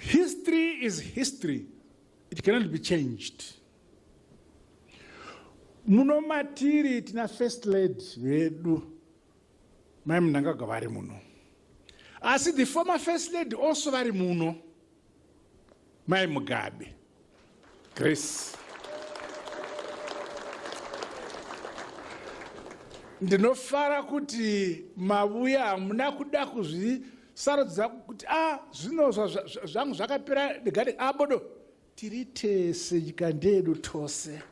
History is history. It cannot be changed. Muno matiri tina first lady vedu mai Mnangagwa vari muno. Asi the former first lady also vari muno mai Mugabe. Grace. Ndinofara kuti mavuya hamuna kuda kuzvisarudza kuti a ah, zvino zvangu zvakapera ndegade abodo ah, tiri tese nyika ndedu tose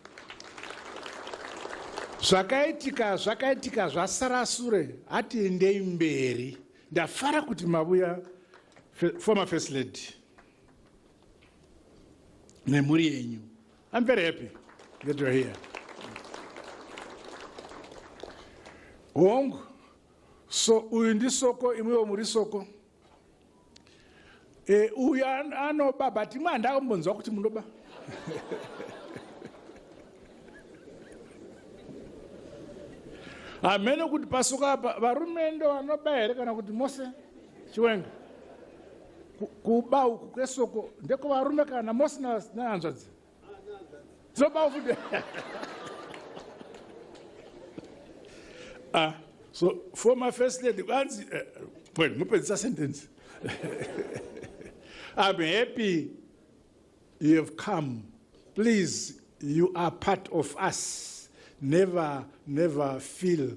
zvakaitika zvakaitika zvasara sure hatiendei mberi ndafara kuti mavuya former first lady nemhuri yenyu i'm very happy that you're here hongu so uyu ndisoko imwiwo muri soko e, uyu anoba but imwe handakambonzwa kuti munoba hameno kuti pasuka apa varume ndo vanoba here kana kuti mose chiwenga kuba uku kwesoko ndekovarume kana mosi nehanzvadzi dzoba uku ah, so former first lady vanzi eh, point mupedzisa sentence i'm happy you have come please you are part of us never never feel